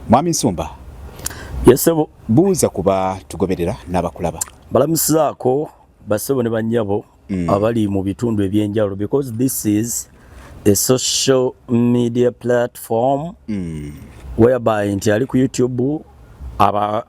Mwami Nsumba. Yes sebo. Buuza kuba tugoberera n'abakulaba. Balamusizaako basebo ne bannyabo mm. abali mu bitundu ebyenjawulo because this is a social media platform mm. whereby nti ali ku YouTube aba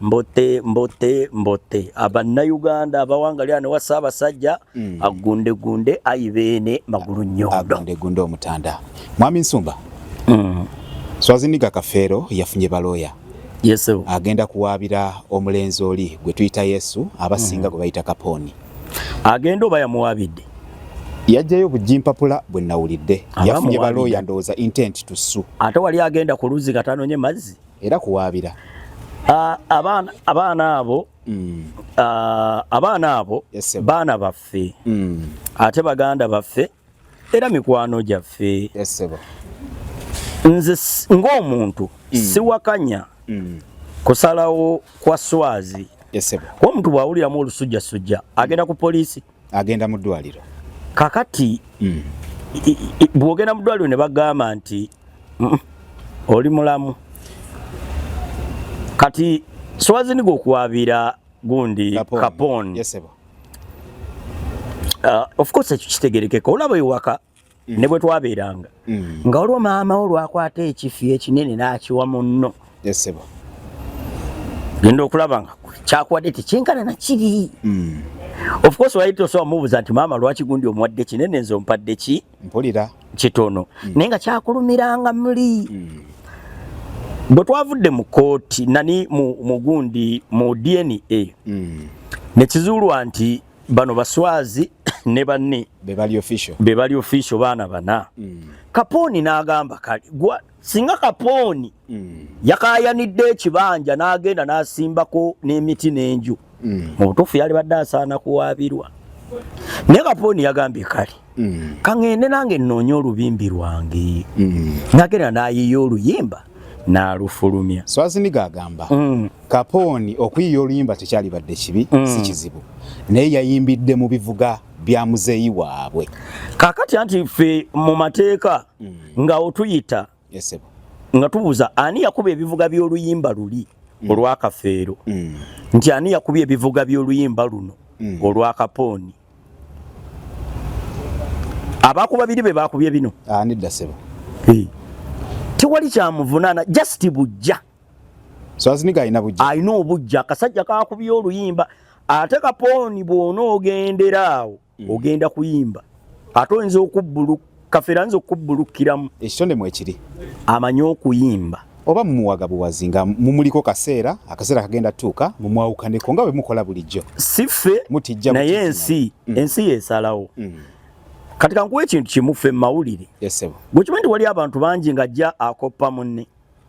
mbote mbote mbote abannayuganda abawangalira ne wasaabasajja mm. agundegunde ayi beene magulu nyodogundegunde omutanda mwami nsumba mm. swaziniga kafeero yafunye balooya yes, agenda kuwaabira omulenzi oli gwe tuyita yesu abasinga mm. gwe bayita kapooni agenda oba yamuwaabidde yajjayo bujimpapula bwe nawulidde yafunye balooya ndowooza intent tusu ate wali agenda ku luzzi katanonye mazzi era kuwaabira ah, abaana abaana abo mm. ah, abaana abo yes, baana baffe mm. ate baganda baffe era mikwano gyaffe yes, nze ng'omuntu mm. siwakanya mm. kusalawo kwa swazi yes, omuntu bw'awuliramu olusujjasujja agenda ku poliisi agenda mu ddwaliro kakati mm. bwogenda mu ddwaliro ne bagamba nti mm, oli mulamu kati swaziniga okuwabiira gundi kapon, kapon. Yes, uh, of course ekyo kitegerekeka olaba ewaka mm. ne bwe twabeeranga mm. nga waliwo maama wo lwakwata ekifi ekinene n'akiwa munno genda okulaba nga kyakuwadde tekyenkana na kiri mm. of course wali tosobola mubuuza nti maama lwaki gundi omuwadde kinene nze ompadde ki mpulira kitono mm. naye nga kyakulumiranga muli mm. bwe twavudde mu kooti nani mu gundi mu dna mm. ne kizuulwa nti bano baswazi ne banne bebali official bebali official baana bana mm. kapooni n'agamba kale gwa singa kapooni mm. yakayanidde ekibanja n'agenda n'asimbako n'emiti n'enju mm. mu butuufu yali badde asaana kuwaabirwa naye kapooni yagambye kale mm. kaŋŋende nange nnoonye olubimbi lwange mm. nagenda n'ayiiya oluyimba n'alufulumya swaziniga agamba mm. kapooni okuyiiya oluyimba tekyalibadde kibi mm. si kizibu naye yayimbidde mu bivuga bya muzeeyi waabwe kakati anti ffe mu mateeka mm. nga otuyita yes sebo nga tubuza ani yakuba ebivuga by'oluyimba luli mm. olwakafeero mm. nti ani yakuba ebivuga by'oluyimba luno mm. olwakapooni abakuba biri be bakubye bino ah, nedda sebo tewali kyamuvunaana just bujja so aziniga alina bujja alina obujja akasajja kakubye oluyimba ate kapooni bw'onoogendera awo mm. ogenda kuyimba ate oyinza okubbuluka kafeera nza okubbulukkiramu ekitone mwekiri amanyi okuyimba oba mumuwaga buwazi nga mumuliko kaseera akaseera kagenda tuuka mumwawukaneko nga bwemukola bulijjo siffe mutijja naye ensi mm. ensi yesalawo mm. kati kankuwa ekintu kimufe mumawulire gwekimanyi nti wali abantu bangi nga ajja akoppa munne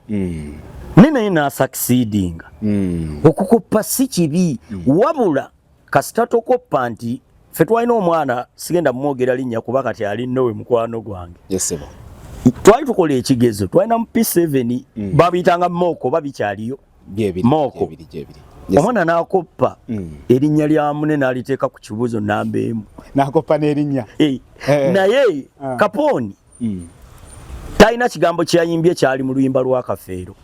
mm. naye naye nasakisidinga mm. okukoppa si kibi mm. wabula kasita tokoppa nti fe twalina omwana sigenda mumwogera linnya kuba kati ali nowe mukwano gwange yesebo twali tukola ekigezo twalina mu p7 mm. babiyitanga mooko ba bikyaliyo mooko omwana nakoppa mm. erinnya lya mune naliteeka ku kibuuzo namba emu nakoppa n'erinnya eh. Eh. naye ah. kapooni mm. talina kigambo kyeyayimbye kyali mu luyimba lwa kafeero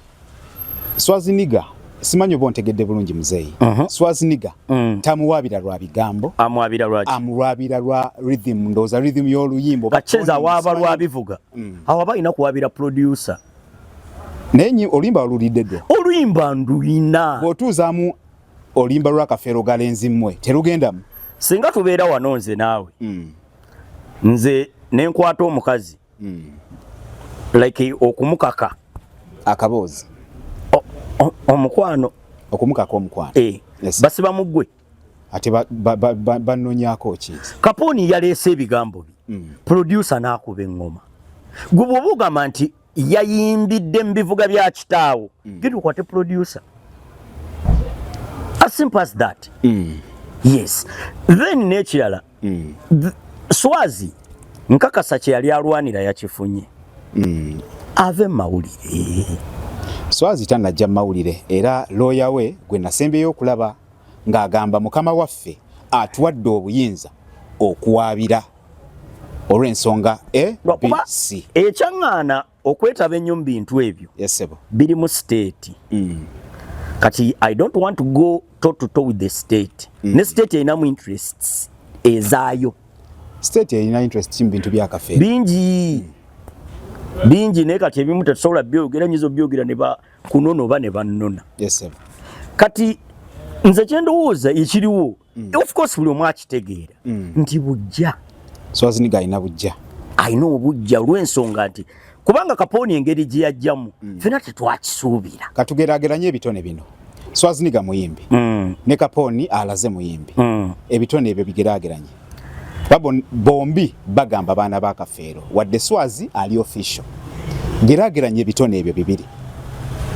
swaziniga simanyi oba ontegedde bulungi muzeeyi uh -huh. swaziniga mm. tamuwaabira lwa bigambo amuwaabira lwa amuwaabira lwa rhythm ndowooza rhythm y'oluyimba kacheza waaba lwa bivuga mm. awo aba alina kuwaabira producer naye nyi oluyimba olulidde ddo oluyimba nduyina bw'otuuzaamu oluyimba lwa kafeero galenzi mmwe terugendamu singa tubeera wano nze naawe mm. nze nenkwata omukazi mm. like okumukaka akaboozi omukwano okumukaka omukwano eh, yes. basiba mugwe ate banonyako ba, ba, ki kapooni yaleese ebigambo bi mm. producer n'akuba eŋŋoma gwe bwoba ogamba nti yayimbidde mu bivuga bya kitaawo mm. genda okwate producer as simple as that mm. yes then n'ekirala mm. swazi nkakasa kye yali alwanira yakifunye mm. ave mawulire swazi tanajja mawulire era looya we gwe nasembyeyo okulaba ng'agamba mukama waffe atuwadde obuyinza okuwaabira olw'ensonga abc ekyaŋŋaana okwetaba ennyo mu bintu ebyo biri mu siteeti mm. kati i don't want to go to to to with the state mm. ne state erinamu interests ezaayo state erina interest ki mu bintu byakafe bingi mm. bingi naye kati ebimu tetusobola byogera nyiza obyogera ne bakunona oba ne bannona yes, kati nze kyendowooza ekiriwo mm. of course buli omu akitegeera mm. nti bujja swaziniga alina bujja alina obujja olw'ensonga nti kubanga kapooni engeri gye yajjamu mm. fena tetwakisuubira katugerageranye ebitone bino swaziniga muyimbi mm. ne kapooni alaze muyimbi mm. ebitone ebyo bigerageranye bombi bagamba baana ba kafeero wadde swazi ali official gerageranya ebitone ebyo bibiri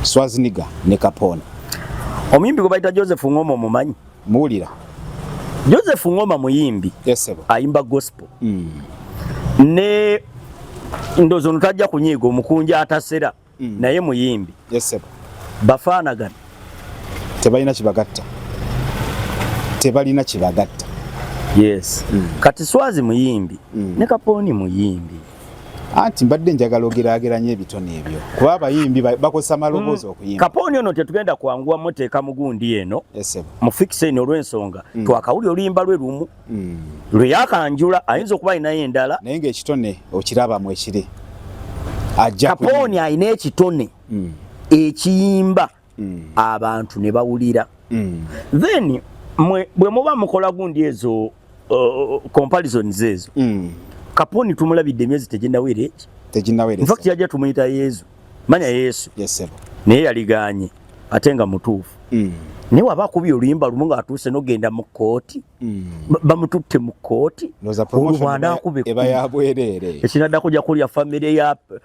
swaziniga ne kapooni omuyimbi gwe bayita joseph ngoma omumanyi Muwulira. Joseph Ngoma muyimbi. Yes sebo. Ayimba gospel. Mm. Ne ndozo nutajja kunyigo mukunja atasera mm. naye muyimbi. Yes sebo. Bafana gani. Tebalina kibagatta. Tebalina kibagatta. Yes. Mm. Kati swazi muyimbi. Mm. Ne kaponi muyimbi. anti mbadde njagala ogeraageranya ebitone ebyo kuba abayimbi bakozesa maloboozi hmm. okuyimba kapooni ono tetugenda kwanguwa muteeka mugundi eno mu fikiseni olw'ensonga hmm. twakawuli oluyimba lwe lumu hmm. lwe yakanjula ayinza okuba alinayo endala naye ngaekitone okirabamu ekiri kapooni alina ekitone ekiyimba mm. abantu ne bawulira mm. then mwe bwe muba mukola gundi ezo uh, comparisons ezo mm. kaponi tumulabidde emyezi teginawera eki teginawera in fact yajja tumuyita yezu manya yesu yes, sir. naye yaliganye ate nga mutuufu mm. naye waba akubi oluyimba lumu nga atuuse nogenda mu kkooti mm. bamututte mu kkooti olubwanda akube ekinadda kuja kulya famire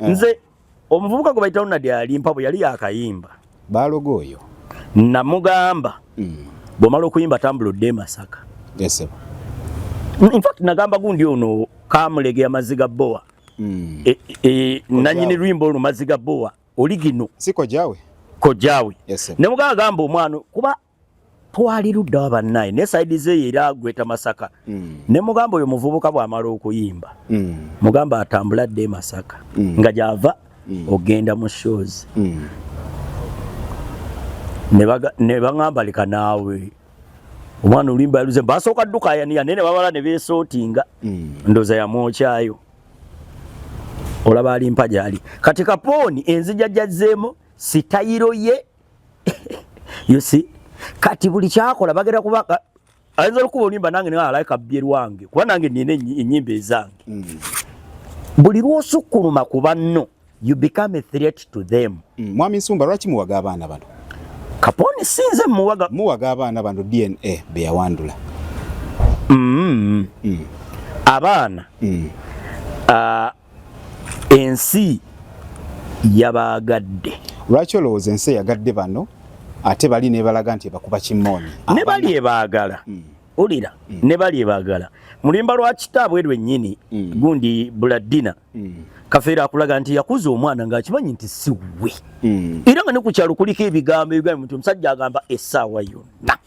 eh. nze omuvubuka gwe bayita Ronald alimpa bwe yali yakayimba baaloga oyo namugamba mm. bwomala okuyimba tambula odde e Masaka yes, in fact nagamba gundi ono kamulegea maziga boa mm. e, e, nanyini lwimbo oluno maziga boa oligino si kojawe kojawe yes, ne mugamba gamba omwana kuba twali ludda wa bannaye ne saidi zeeyo era agweta masaka mm. ne mugamba oyo muvubuka bw'amala okuyimba mm. mugamba atambula dde masaka mm. nga gy'ava mm. ogenda mu shows mm. ne baŋamba leka naawe omwana oluyimba yaluze basooka ddukayaniya naye ne babala ne beesootinga mm. ndooza yamwokyayo olaba alimpa gyali kati kapooni enzija gyazzeemu sitayiro ye you see kati buli kyakola bagera kuba ayinza olukuba olimba nange ne alaika bye lwange kuba nange nina enyimba ezange mm. buli lwosukkuluma ku banno you become a threat to them mm. mwami nsumba lwaki muwaga abaana bano kaponi sinze muwaga muwaga abaana bano dna beyawandula mm. mm. abaana mm. uh, ensi yabaagadde lwaki olowooza ensi eyagadde bano ate bali nebalaga nti ebakuba kimooni ne bali ebaagala mm. ulira mm. ne bali ebaagala mulimba lwa kitaabwe lwennyini mm. gundi buladina mm. kafeera akulaga nti yakuza omwana ng'akimanyi nti siwe mm. era nga ne ku kyalo kuliko ebigambo ebigambo nti omusajja agamba essaawa yonna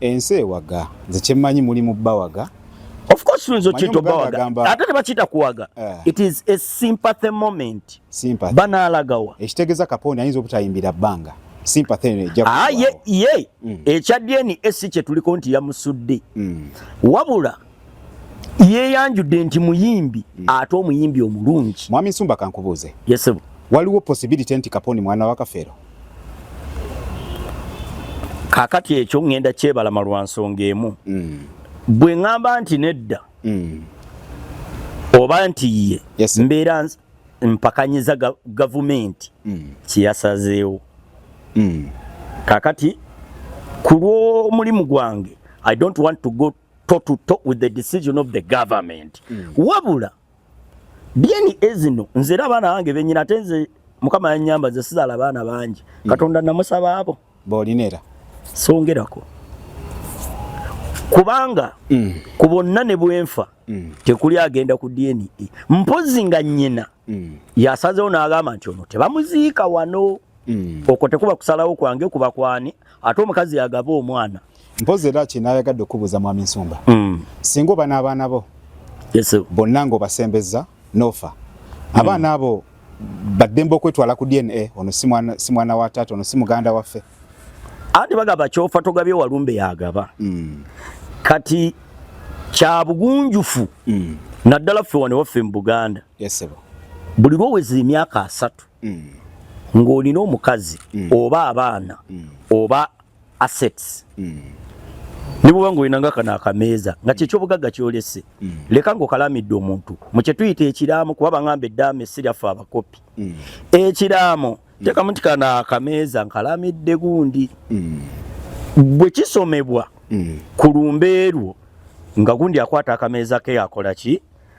Ensi ewaga nze kyemmanyi muli mu bawaga Of course nzo kito bawaga ate tebakiyita kuwaga uh, it is a sympathy moment sympathy. banaalagawa ekitegeza kapondi ayinza obutayimbira bbanga sympathy eno ejja ah, ye, ye. Mm. ekya dna si kyetuliko nti yamusudde mm. wabula yeyanjudde nti muyimbi mm. ate omuyimbi omulungi mwami nsumba kankubuuze yes, waliwo possibility nti kaponi mwana wa kafeero kakati ekyo ngenda kyebalama lwa nsonga emu mm. bwe ŋŋamba nti nedda mm. oba nti ye yes, mbeera mpakanyiza gavumenti mm. kyeyasazeewo mm. kakati ku lw'omulimu gwange i don't want to go to to to with the decision of the government mm. wabula byeni ezino nze era abaana bange benyina ate nze mukama yanyamba nze sizaala abaana bangi mm. katonda namusaba abo bolinera songerako kubanga mm. ku bonna ne bwenfa mm. tekuli agenda ku dna e. mpozi nga nyina mm. yasazewo n'agamba nti ono tebamuziika wano mm. okwo tekuba kusalawo kwange kuba kwani ate omukazi yagaba omwana mpozi era kino ayagadde okubuuza mwami nsumba mm. singa oba n'abaana bo yes, bonna ng'obasembeza n'ofa mm. abaana abo baddembe okwetwala ku dna ono si mwana wa taata ono si muganda waffe ati bagaba kyofa togabye walumbe yagaba mm. kati kya bugunjufu mm. naddala ffe wano waffe mu buganda yes, buli lwoweza emyaka asatu mm. ng'olina omukazi mm. oba abaana mm. oba assets mm. ne bwobanga olina nga kano akameeza nga kyekyobugagga kyolese mm. leka ngaokalamidde omuntu mukyetuyita ekiraamo kuba bangamba eddaama esiryaffe abakopi mm. ekiraamo mm. tekamu nti kano akameeza nkalamidde gundi mm. bwe kisomebwa mm. ku lumbeerwo nga gundi akwata akameeza ke akola ki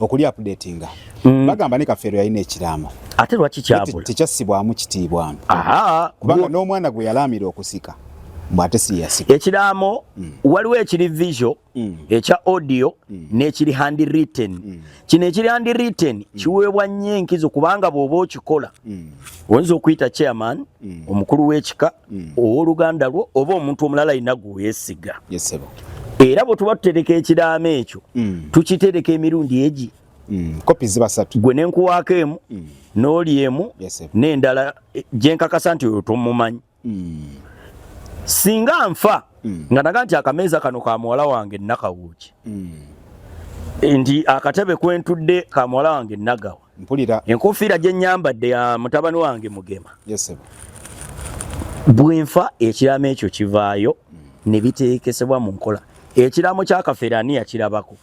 okuli updatinga mm. bagamba ne kafeero yalina ekiraamo ate lwaki kyabula tekyassibwamu kitiibwa kubanga n'omwana gwe yalaamira okusika mbwate siyasika ekiraamo mm. waliwo ekiri visual mm. ekya audio mm. n'ekiri hand written mm. kino ekiri hand written mm. kiweebwa nnyo enkizo kubanga bw'oba okikola mm. oyinza okuyita chairman mm. omukulu w'ekika mm. ow'oluganda lwo oba omuntu omulala yina gweyesiga era bwe tuba tutereka ekiraamo ekyo mm. tukitereka emirundi egi mm. kopi ziba satu gwe nenkuwaako emu mm. n'oli emu n'endala e, gyenkakasa nti oyo tomumanyi mm. singa nfa mm. nga naga nti akameeza kano ka muwala wange nakawuuki mm. nti akatebe kwentudde ka muwala wange nagawa mpulira enkufiira gye nnyambadde ya mutabani wange mugema bwenfa ekiraamo ekyo kivaayo ne biteekesebwa mu nkola ekiraamo kya kafeere ani yakirabako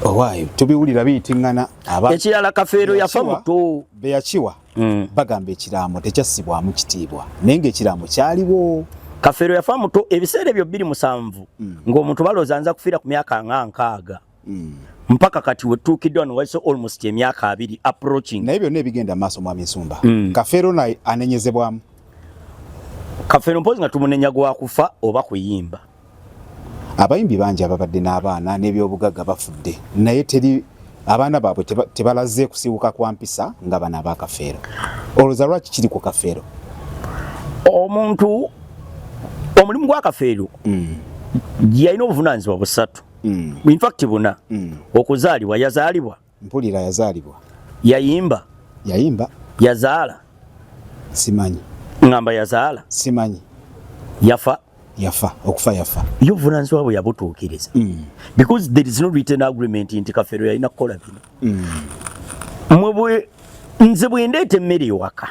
owaayo tubiwulira biyitiŋŋana ekirala kafeero yafa muto be yakiwa mm. bagamba ekiraamo tekyassibwamu kitiibwa naye ngaekiraamo kyaliwo kafeero yafa muto ebiseera ebyo bbiri musanvu mm. ng'omuntu balooza nza kufiira ku myaka nga nkaaga mm. mpaka kati wetuukiddwa wano wayise almost emyaka abiri approaching naye byonna ebigenda maaso mwami nsumba mm. kafeero naye anenyezebwamu kafeero mpozi nga tumunenya gwakufa oba kuyimba abayimbi bangi ababadde n'abaana n'ebyobugagga bafudde naye teri abaana baabwe tebalaze kusiiwuka kwa mpisa nga bana ba kafeero olwoza lwaki kiri ku kafeero omuntu omulimu gwa kafeero mm. yalina obuvunanyizibwa busatu mm. in fact buna mm. okuzaalibwa yazaalibwa mpulira yazaalibwa yayimba yayimba yazaala simanyi ngamba yazaala simanyi yafa yafa okufa yafa yo obuvunaanyizibwa bwe yabutuukiriza mm. because there is no written agreement nti kafeero yalina kukola bino mm. mwebwe nze bwendeeta emmere ewaka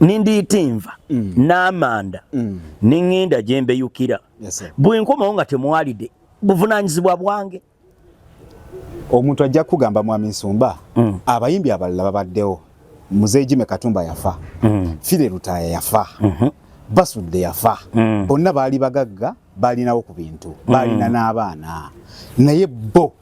nindiita enva mm. n'amanda mm. neŋŋenda gye mbeyukira yes, bwenkomawo nga temwalide buvunanyizibwa bwange omuntu ajja kugamba mwami nsumba mm. abayimbi abalala babaddewo mzee jime katumba yafa mm. fire lutaya yafa mm -hmm. basudde yafa mm. bonna baali bagagga baalinawo ku bintu mm. baalina mm. n'abaana naye bo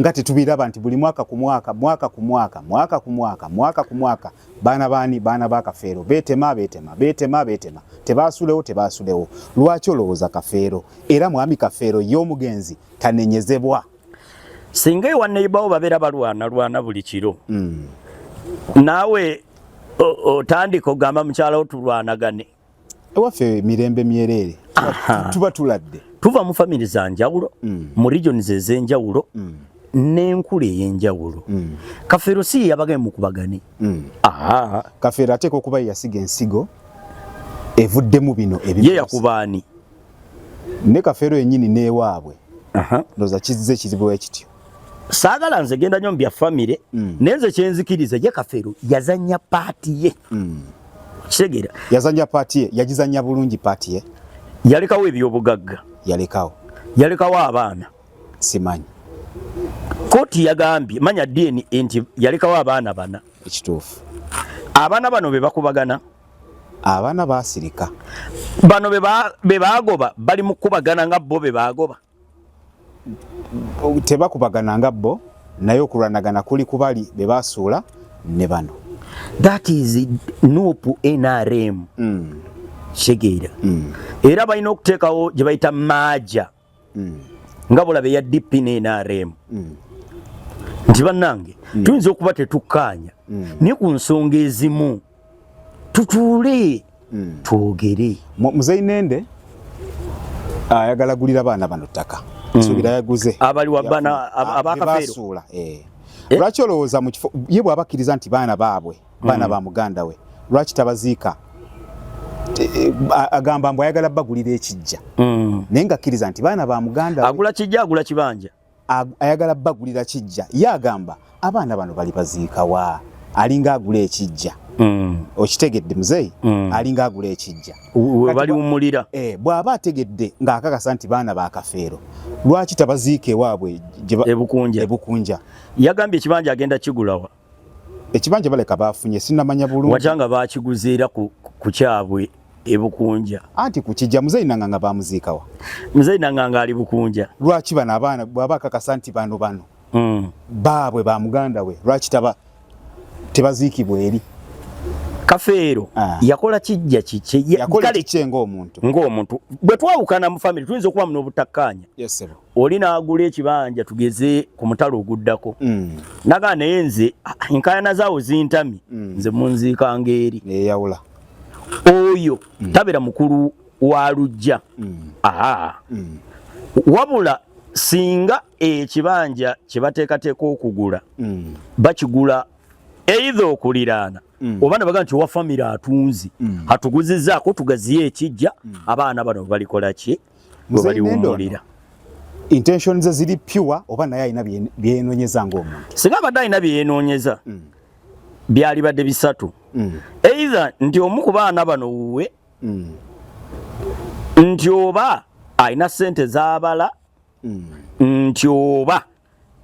nga tetubiraba nti buli mwaka ku mwaka mwaka ku mwaka mwaka ku mwaka mwaka ku mwaka baana baani baana ba kafeero beetema beetema beetema beetema tebaasulewo tebaasulewo lwaki olowooza kafeero era mwami kafeero ye omugenzi tanenyezebwa singa ewa neibawo babeera balwana lwana buli kiro mm. naawe otandika ogamba mukyalawo tulwanagane ewaffe mirembe myereere tuba tuladde tuva mu famire za njawulo mm. mu regions ez'enjawulo mm. n'enkula ey'enjawulo mm. kafeero si yeyabagae mukubagane mm. ah. kafeero ateeka okuba yeyasiga ensigo evuddemu bino ye yakubaani ne kafeero yennyini n'ewaabwe ndoza kizze kizibwe kityo saagala nze genda nyo mubya famire mm. naye nze kyenzikiriza ye kafeero yazanya paati ye mm. kitegera yazanya paati ye yagizanya bulungi paati ye yalekawo ebyobugagga yalekawo yalekawo abaana simanyi kooti yagambye manya dna nti yalekawo abaana bana ekituufu abaana bano be bakubagana abaana basirika bano be bagoba bali mukubagana nga bo be bagoba tebakubagana nga bo naye okulwanagana kuli kubali be basuula ne bano that is nup nrm mm. shegeera mm. era balina okuteekawo gye bayita maaja mm. nga bulaba eya dp ne nrm mm. nti bannange mm. tuyinza okuba tetukkaanya mm. naye ku nsonga ezimu tutuule hmm. twogere muzeyi nende ayagala ah, gulira baana bano ttaka hmm. nsubira yaguze abali wabana abakafeero eh. eh? lwaki olowooza mu kifo ye bw'abakkiriza nti baana baabwe baana hmm. ba muganda we lwaki tabaziika eh, agamba mbu ayagala bagulira ekijja naye ngakkiriza nti baana ba muganda agula kijja agula kibanja ayagala bagulira kijja ye agamba abaana bano bali baziikawa alinga agula ekijja mm. okitegedde muzeeyi mm. alinga agula ekijja webaliwumulira eh, bw'aba ategedde ng'akakasa nti baana ba kafeero lwaki tabaziika ewaabwe ebukunja yagambye ekibanja agenda kigulawa ekibanja baleka bafunye sinamanya bulungi wajanga bakiguzeera ku, ku kyabwe ebukunja anti kukijja muzeyi nanganga bamuziikawa muzeyi nanganga ali bukunja lwaki bano abaana bwaba kakasa nti bano bano mm. baabwe ba muganda we lwaki taba tebaziikibwa eri kafeero ah. yakola kijja kikye ng'omuntu ng'omuntu bwe twawukana mu famiry tuyinza okubamu n'obutakkaanya yes, oli n'agula ekibanja tugeze ku mutalo oguddako mm. naga naye nze enkayana zaawo zintami mm. nze munziika ng'eri eyawula oyo mm. tabeera mukulu wa lujja mm. aa mm. wabula singa ekibanja kye bateekateeka okugula mm. bakigula eidha okuliraana mm. oba nabaga nti owa famire atunzi mm. atuguzizaako tugaziyo ekijja mm. abaana bano balikola ki gwe baliwummulira intention ze ziri pure oba naye alina byenonyeza ngaomuntu singa abadde alina byeyenoonyeza mm. byalibadde bisatu mm. either nti omu ku baana bano wuwe mm. nti oba alina sente zabala nti oba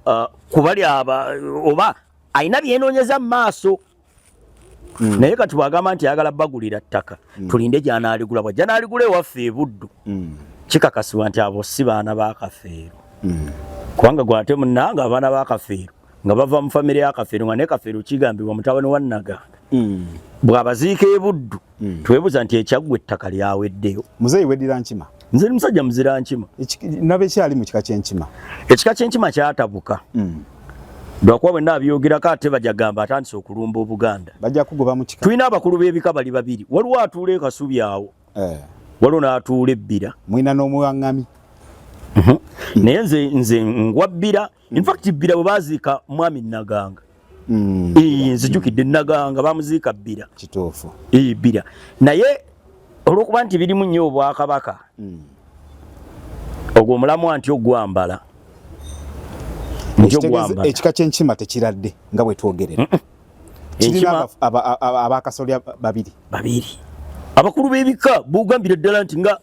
uh, kubali aba oba alina byenoonyeza mu maaso mm. naye kati bwagamba nti ayagala bagulira ttaka mm. tulinde gyanaaligula bwa gyanaaligula ewaffe ebuddu mm. kikakasibwa nti abo si baana bakafeero mm. kubanga gwate munanga abaana bakafeero nga bava mu famire yakafeero nga nekafeero kigambibwa mutabani wa naganda mm. bwabaziika ebuddu mm. twebuza nti ekyaggwa ettaka lyaweddeyo muzeeyi weddira nkima nze ni musajja muzira nkima naba ekyali mu kika kyenkima ekika kyenkima kyatabuka mm. lwakuba bwenna abyogerako ate bajagamba atandise okulumba obuganda bajja kugoba mu kika tulina abakulu b'ebika bali babiri waliwo atuula ekasubi awo eh. waliwo n'atuula ebbira mwina n'omuwaŋŋami mhm. naye nze nze ngwa bbira hmm. in fact bbira bwe baziika mwami naganga hmm. nzijukidde naganga bamuziika bbira kituufu bbira naye olwokuba nti birimu nnyo obwakabaka hmm. ogwo omulamwa nti ogwambala ekika kyenkima tekiradde nga bwetwogerera kirina abakasolya babiri babiri abakulu b'ebika bugambira ddala nti nga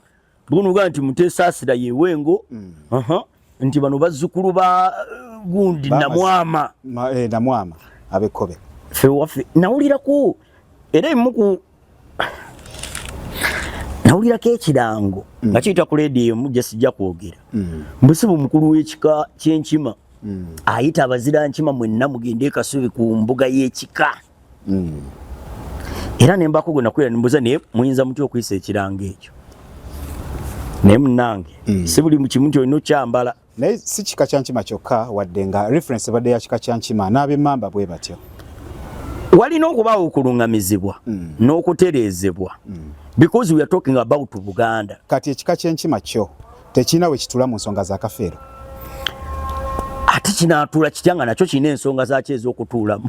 bunuga nti mutesasira yewengo mm. uh -huh. nti bano bazzukulu ba uh, gundi namwama Ma, eh, namwama abekobe fewafe nawulirako era emuku nawulirako ekirango mm. nga kiyita ku leediyo emu gye sijja kwogera mm. mbusibu mukulu w'ekika ky'enkima mm. ayita abazira nkima mwenna mugende ekasubi ku mbuga y'ekika mm. era nembako gwe nakulira nimbuza naye muyinza mutya okuyisa ekiranga ekyo naye munange mm. si buli kimu nti olina okyambala naye si kika kya nkima kyokka wadde nga reference ebadde ya kika kya nkima n'abemamba bwe batyo walina okubaawo okuluŋŋamizibwa mm. n'okutereezebwa mm. because we are talking about buganda kati ekika ky'enkima kyo tekirina we kitula mu nsonga za kafeero ate kinaatuula kitya nga nakyo kirina ensonga zaakyo ez'okutuulamu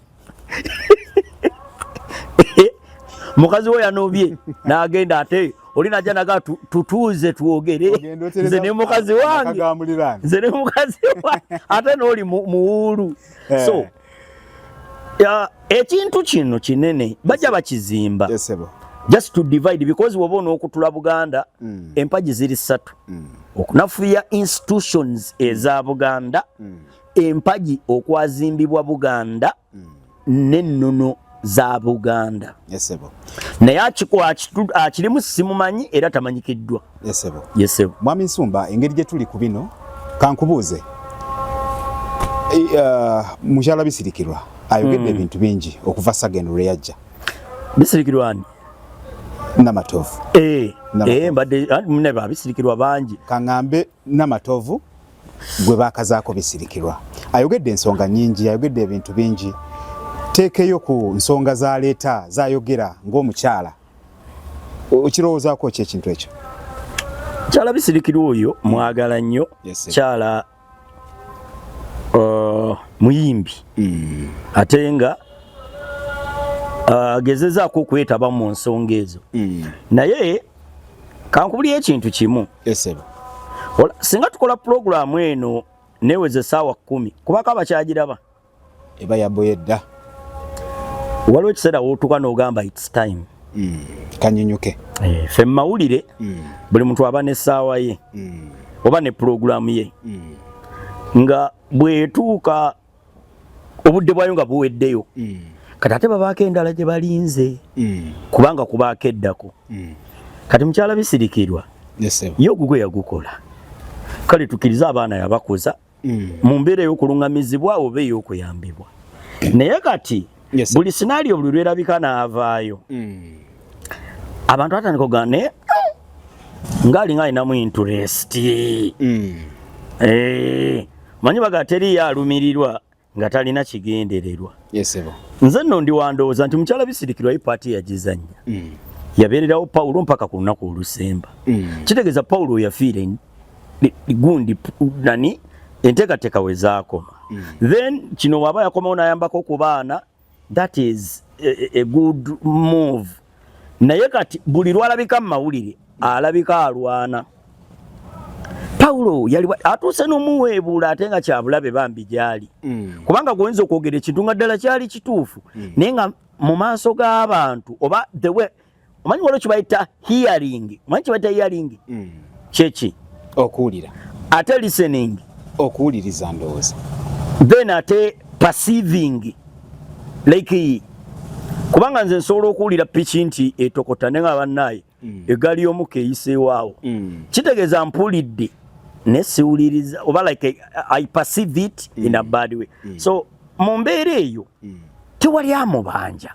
mukazi we yanobye nagenda ate oli naja naga tutuuze twogere nze ne mukazi wange nze ne mukazi wange ate nooli muwuulu eh. so ekintu kino kinene bajja bakizimba just to divide because woba onokutula buganda mm. empagi ziri ssatu mm. okunafuya institutions eza buganda mm. empagi okwazimbibwa buganda mm. nennono za buganda yesebo naye akirimu simumanyi era tamanyikiddwa yesebo yesebo mwami nsumba engeri gye tuli ku bino kankubuuze e, uh, mukyala bisirikirwa ayogedde mm. ebintu bingi okuva sagendo lwe yajja bisirikirwa ani namatovu e, e, mbadde mune babisirikirwa bangi kaŋambe Namatovu gwe baakazaako bisirikirwa ayogedde ensonga nyingi, ayogedde ebintu bingi. Teekeyo ku nsonga zaleeta zayogera ng'omukyala, okirowoozaako ki ekintu ekyo? Kyala bisirikirwa oyo mwagala nnyo kyala uh, muyimbi hmm. ate nga uh, agezezaako okwetaba mu nsonga ezo hmm. naye kankubulira ekintu kimu esebo wala singa tukola program eno neweze sawa 10 kubaka abakyagiraba eba yaboyedda waliwo ekiseera wotuka nogamba its time mm. kanyunyuke eh, fe mawulire mm. buli muntu aba ne saawa ye mm. oba ne program ye mm. nga bwetuuka obudde bwayo nga buweddeyo mm. kati ate babaako endala gye balinze mm. kubanga kubaako eddako mm. kati mukyala bisirikirwa ye ogugwe yagukola kale tukiriza abaana yabakuza mu mbeera ey'okulungamizibwa oba ey'okuyambibwa naye kati yes, buli scenario buli lwerabika n'avaayo mm. abantu batandika okugaa naye ng'alinga alinamu interest mm. eh, manyi baga teriyo alumirirwa nga talina kigendererwa yes, nze nno ndi wandowooza nti mukyala bisirikirwa ye paati yagizannya mm. yabeererawo pawulo mpaka ku lunaku olusemba mm. kitegeeza pawulo yafiire nti gundi nani enteekateeka we zaakoma mm. then kino waaba yakomawo n'ayambako ku baana that is a, a good move naye kati buli lwalabika mu mawulire alabika alwana pawulo yali atuuse n'omuweebuula ate nga kyabulabe bambi gyali mm. kubanga gwoyinza okwogera ekintu nga ddala kyali kituufu mm. naye nga mu maaso g'abantu oba the way omanyi waliwo kibayita hearing omanyi kibayita hearing mm. kyeki okuwulira ate listening okuwuliriza ndowooza then ate perceiving like kubanga nze nsobola okuwulira piki nti etokota ne nga bannaaye mm. egaali y'omuka eyiseewaawo mm. kitegeeza mpulidde ne siwuliriza oba like i perceive it mm. in a mm. bad way mm. so mu mbeera eyo mm. tewali amubanja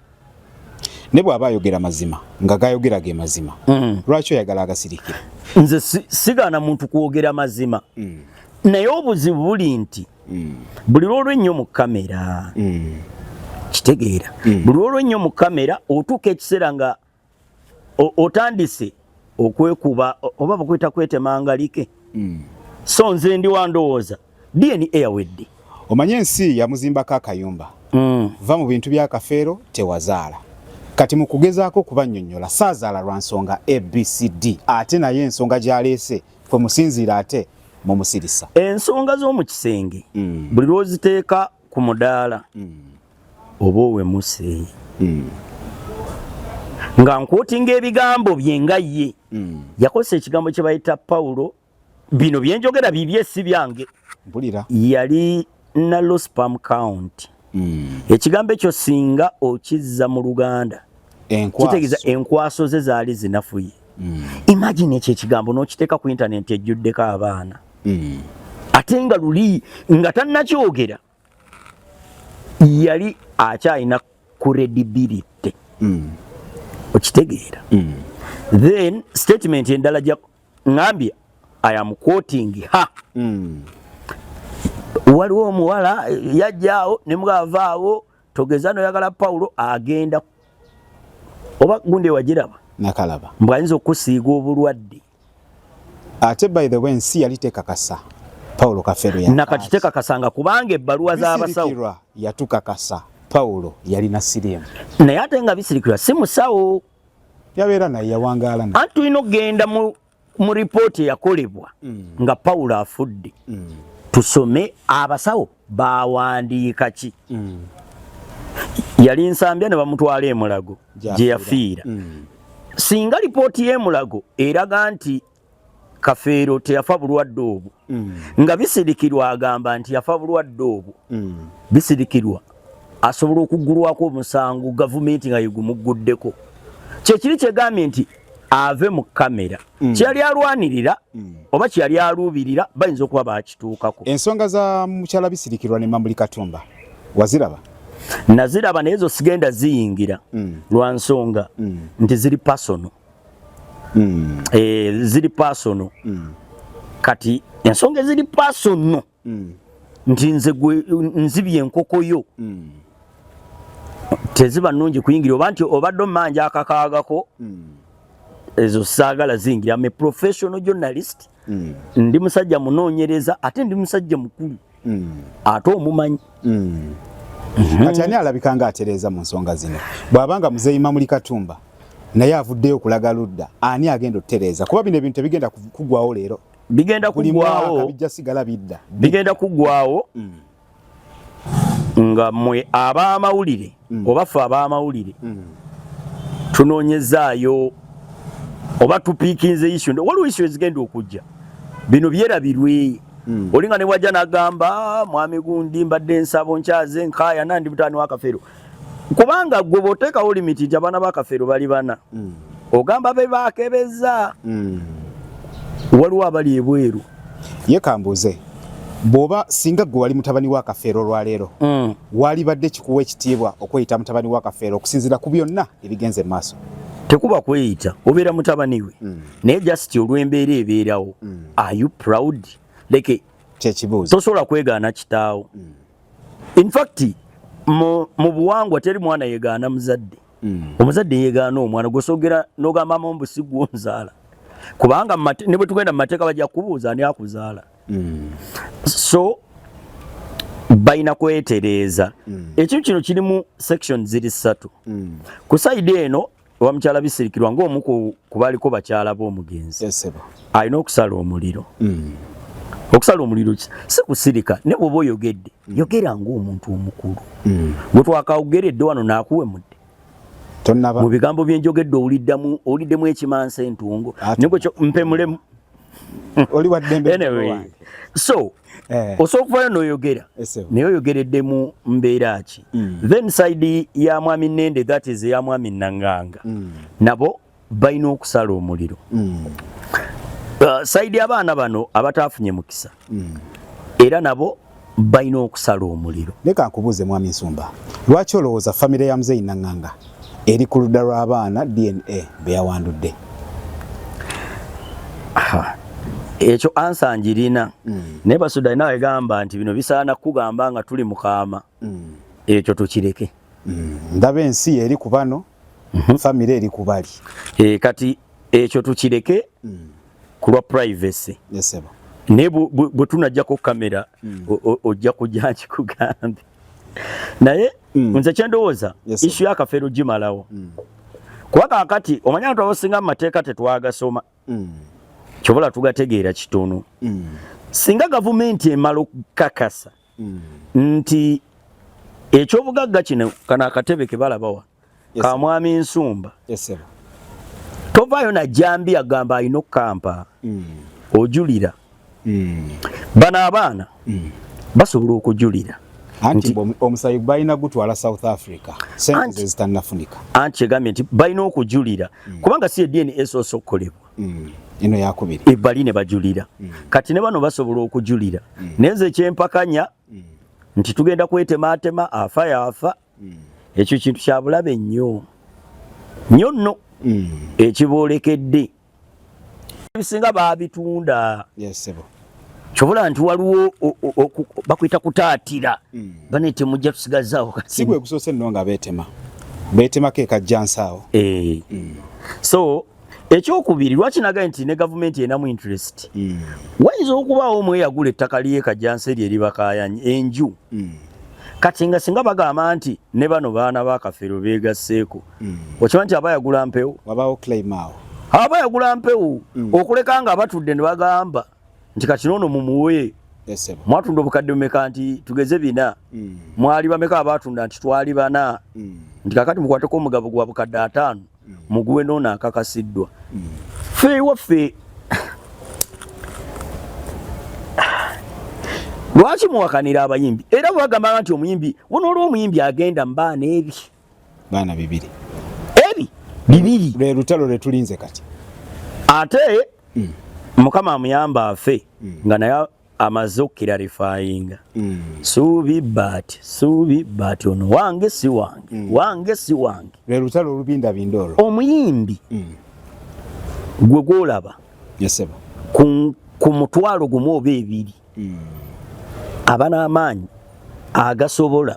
ne bw'aba ayogera mazima nga gayogera ge mazima mm. lwaki oyagala agasirikira nze sigaana muntu kwogera mazima mm. naye obuzibu buli nti mm. buli lwolwo ennyo mu kamera kitegeera buli lwolwo ennyo mu kamera otuuka ekiseera nga otandise okwekuba oba bakweta kwetemanga like mm. so nze ndi wandowooza dna yawedde omanye ensi yamuzimbako akayumba mm. va mu bintu byakafeero tewazaala kati mu kugezaako okubanyonyola saazaala lwa nsonga abcd ate naye ensonga gyaleese kwe musinziira ate mumusirisa ensonga z'omu kisenge mm. buli lwoziteeka ku mudaala mm. oba owemuse hmm. nga nkwotinga ebigambo bye nga ye hmm. yakozesa ekigambo kye bayita pawulo bino byenjogera bibye si byange yali na lospam count hmm. ekigambo ekyo singa okizza mu luganda kitegeeza enkwaso ze zaali zinafuye imagine ekyo ekigambo n'okiteeka ku intanenti ejjuddeko abaana ate nga luli nga tannakyogera yali akyalina credibility mm. okitegeera mm. then statement endala ja ngambye i am quoting ha mm. waliwo omuwala yajjaawo ne mugavaawo togeza noyagala pawulo agenda oba gundi ewagiraba nakalaba mbwayinza okusiiga obulwadde ate by the way ensi yali tekakasa paulo kafero ya nakati tekakasa nga kubanga ebbaluwa z'abasawo yatukakasa paulo yalina sirimu naye ate nga bisirikirwa si musawo yabeera naye yawangaala naye anti tulina okugenda mu, mu ripooti eyakolebwa mm. nga paulo afudde mm. tusome abasawo baawandiika ki mm. yali nsambya ne bamutwala emulago gye yafiira mm. singa lipooti y'emulago eraga nti kafeero teyafa bulwadde obwo mm. nga bisirikirwa agamba nti yafa bulwadde obwo mm. bisirikirwa asobola okuggulwako omusango gavumenti nga yegumugguddeko kyekiri kyegambye nti ave mu kamera mm. kyeyali alwanirira mm. oba kyeyali aluubirira bayinza okuba bakituukako ensonga za mukyala bisirikirwa ne mambuli katumba waziraba naziraba naye zosigenda ziyingira mm. lwa nsonga mm. nti ziri pasono mm. e, eh, ziri pasono mm. kati ensonga eziri pasono mm. nti nze gwe nzibye enkoko yo mm. teziba nungi kuyingira oba nti obadde omanja akakaagako mm. ezo saagala zingira ame professional journalist mm. ndi musajja munoonyereza ate ndi musajja mukulu mm. ate omumanyi mm. Mhm. kati ani alabika nga atereeza mu nsonga zino bw'abanga muzeeyi mamuli katumba naye avuddeyo okulaga ludda ani agenda okutereeza kuba bino ebintu tebigenda kugwawo leero bigenda kugwawo bijja sigala bidda bigenda kugwawo mm. nga mwe abamawulire mm. oba fe abamawulire mm. tunonyezaayo oba tupikinze isu waliwo isu ezigenda okujja bino byerabirwe mm. olinga ne bwajja nagamba mwami gundi mbadde nsabo nkyaze nkaya nandi mutani wakafero kubanga gwe bw'oteekawo limiti nti abaana ba kafeero bali bana mm. ogamba be baakebeza mm. waliwo abali ebweru ye kambuuze bwoba singa gwe wali mutabani wa kafeero olwaleero mm. walibadde kikuwa ekitiibwa okweyita mutabani wa kafeero okusinziira ku byonna ebigenze mu maaso tekuba kweyita obeera mutabani we mm. naye just olw'embeera ebeerawo mm. are you proud like kyekibuuzo tosobola kwegaana kitaawo mm. in fact mu buwangwa teri mwana yegaana muzadde mm. omuzadde yegaana omwana gwosogera nogamba mama mbu sigwonzaala kubanga ne bwe tugenda mu mateeka bajja kubuuza ani akuzaala mm. so balina kwetereeza mm. ekintu kino kirimu section ziri ssatu mm. ku saidi eno owa mukyala bisirikirwa ng'omu ku baliko bakyala b'omugenzi alina okusala omuliro hmm. okusala omuliro si kusirika ne bwoba oyogedde hmm. yogera ng'omuntu omukulu hmm. gwe twakawgeredde wano naakuwemudde mu bigambo byenjogedde owuliddemu ekimansa entungo mpe mulemu oli wa ddembe anyway, so eh. osobola okuvayo noyogera yes, naye oyogeredde mu mbeera ki mm. then side ya mwami nende that is ya mwami nanganga mm. nabo balina okusala omuliro mm. uh, side abaana bano abataafunye mukisa mm. era nabo balina okusala omuliro. Leka nkubuuze mwami Nsumba, lwaki olowooza famire ya muzeeyi Nanganga eri ku ludda lw'abaana DNA be yawandudde? Ekyo ansa ngirina mm. naye Basuda alina wegamba nti bino bisaana kukugamba nga tuli mukaama mm. ekyo tukireke. Mm. Ndaba ensi eri ku bano, mm -hmm. famire eri ku bali. E, kati ekyo tukireke mm. kulwa privacy yes, naye bwe tunajjako kamera mm. ojja kujja nkikugambe naye mm. nze kyendowooza yes, isu yakafeero gimalawo mm. kuba kakati omanya bantu abasinga mu mateeka tetwagasoma mm. kyobola tugategeera kitono mm. singa gavumenti emala okukakasa mm. nti ekyobugagga kino kana akatebe kebalabawa yes, ka mwami nsumba yes, tovaayo najambi agamba alina okukampa mm. ojulira mm. bano abaana mm. basobola okujulira anti omusayi balina gutwala south africa sente zezitanafunika anti kyegambye nti balina okujulira mm. kubanga si edna esoosa okukolebwa mm. ino yakubiri ebali ne bajulira mm. kati ne bano basobola okujulira mm. nenze ekyempakanya mm. nti tugenda kwetemaatema afa yafa mm. ekyo kintu kyabulabe nnyo nnyo nno mm. ekiboolekedde ebisinga baabitunda yes, kyobola nti waliwo bakuyita kutaatira mm. bane temujja tusigazaawo kati si gwe gusoose nno nga beetema beetemako ekajjansaawo e. Eh. mm. so ekyokubiri lwaki nagaye nti ne gavumenti enamu interest mm. wayinza okubaawo omu eyagula ettaka lyekajansi eryo eribakayanyi enju mm. kati nga singa bagamba nti ne bano baana bakafeero begasseeko mm. okiba nti aba yagula mpewo aba yagula mpewo mm. okuleka nga abatudde ne bagamba nti kati noono mumuwe mwatunda obukadde bumeka nti tugeze bina mm. mwali bameka abatunda nti twali bana mm. nti kakati mukwateko omugabo gwa bukadde ataano mm. muguwe noono akakasiddwa ffe ewaffe lwaki muwakanira abayimbi era bwebagamba nti omuyimbi wona olwo omuyimbi agenda mbaana ebi baana bibiri ebi bibiri lwe lutalo lwe tulinze kati ate mm. mukama amuyamba afe mm. nga naye amaze okukirarifayinga mm. suubi baati suubi baati ono wange si wange mm. wange si wange lwe lutalo olubindabinda olwo omuyimbi mm. gwe gwolaba ku mutwalo gumu oba ebiri aba n'amaanyi agasobola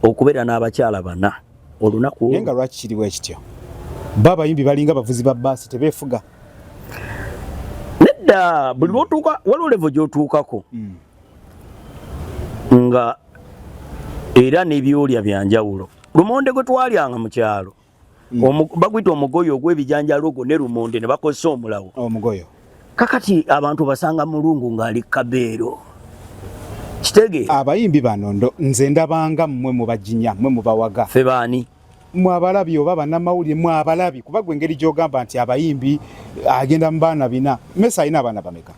okubeera n'abakyala bana olunaku nga lwaki kiriwo ekityo ba abayimbi balinga bavuzi ba baasi tebeefuga nedda buli lwotuuka waliwo levo gyotuukako mm. nga era nebyolya byanjawulo lumonde gwe twalyanga mu kyalo mm. baguyita omugoyo ogwebijanjalo ogwo ne lumonde ne bakozesa omulawo omugoyo kakati abantu basanga mulungu ngaali kabeero kitege abayimbi bano nze ndabanga mmwe mubajinya mmwe mubawaga fe baani mwabalabi oba banamawulire mwabalabi kuba gwe engeri gyogamba nti abayimbi agenda mu baana bina mesa alina abaana bameka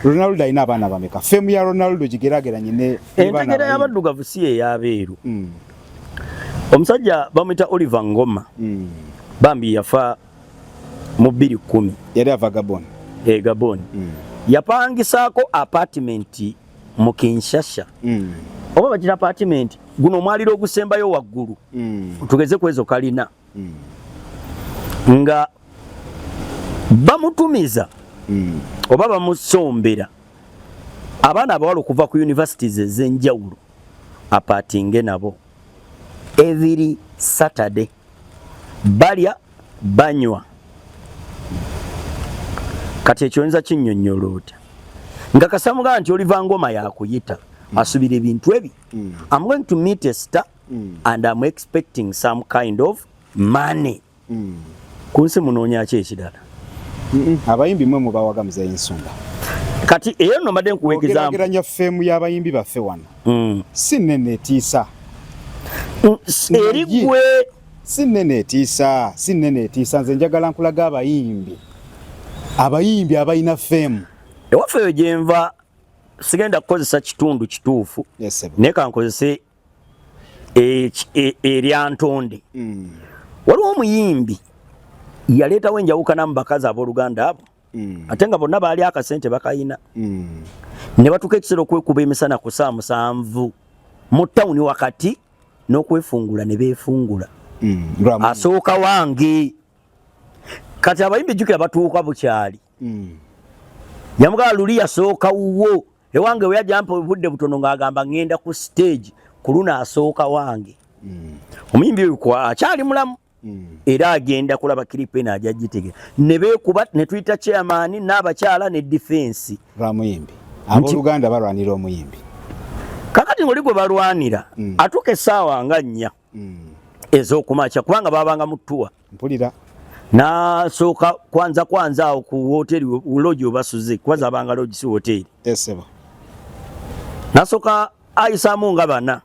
ronaldo alina abaana bameka femu ya ronaldo gigerageranye ne entegera y'abaddugavu si eyabeeru mm. omusajja bamwita oliver ngoma mm. bambi yafa mu bbiri kkumi yali ava gabon e eh, gabon mm. yapangisaako apartment mu Kinshasa mm. oba bagira apartment guno omwaliro ogusembayo waggulu mm. tugeze kwezo kalina mm. nga bamutumiza mm. oba bamusombera abaana abawala okuva ku universities ezenjawulo apatinge nabo every saturday balya banywa kati ekyo oyinza kinyonyola otya nga kasamugamba nti oliva ngoma yakuyita mm. asubira ebintu ebi mm. am going to meet a star mm. and am expecting some kind of money mm. ku nsi munoonyaki ekirala mm -mm. abayimbi mwe mubawaga muzeyi nsumba kati eyo nomade nkuwa egizambugeranya femu y'abayimbi baffe wano mm. si nene etiisa mm, eri gwe si nene etiisa si nene etiisa nze njagala nkulaga abayimbi abayimbi abalina fame ewaffe eyo gyenva sigenda kukozesa kitundu kituufu yes, naye kankozese e, e, erya ntonde mm. waliwo omuyimbi yaleetawo enjawukana mu bakazi abooluganda abo mm. ate nga bonna baali akasente bakayina mm. ne batuuka ekiseera okwekuba emisana ku saa musanvu mu tawuni wakati n'okwefungula ne beefungula mm. asooka wange kati abayimbi jjukira batuuka bukyali mm. yamugala luli yasooka wuwo ewange we yajampa obudde butono ng'agamba ŋŋenda ku siteegi ku luno asooka wange mm. omuyimbi oyo akyali mulamu Mm. era agenda kulaba kiripe eno aja gitegera ne beekuba ne tuyita chairman n'abakyala ne defense lwamuyimbi abooluganda balwanira omuyimbi kakati ngoli gwe balwanira mm. atuuka essaawa nga nnya mm. ez'okumakya kubanga babanga mutuwa mpulira nasooka kwanza kwanza awo ku wooteeri logi obasuze kuba zabanga logi si wooteeri nasooka ayisaamu nga bana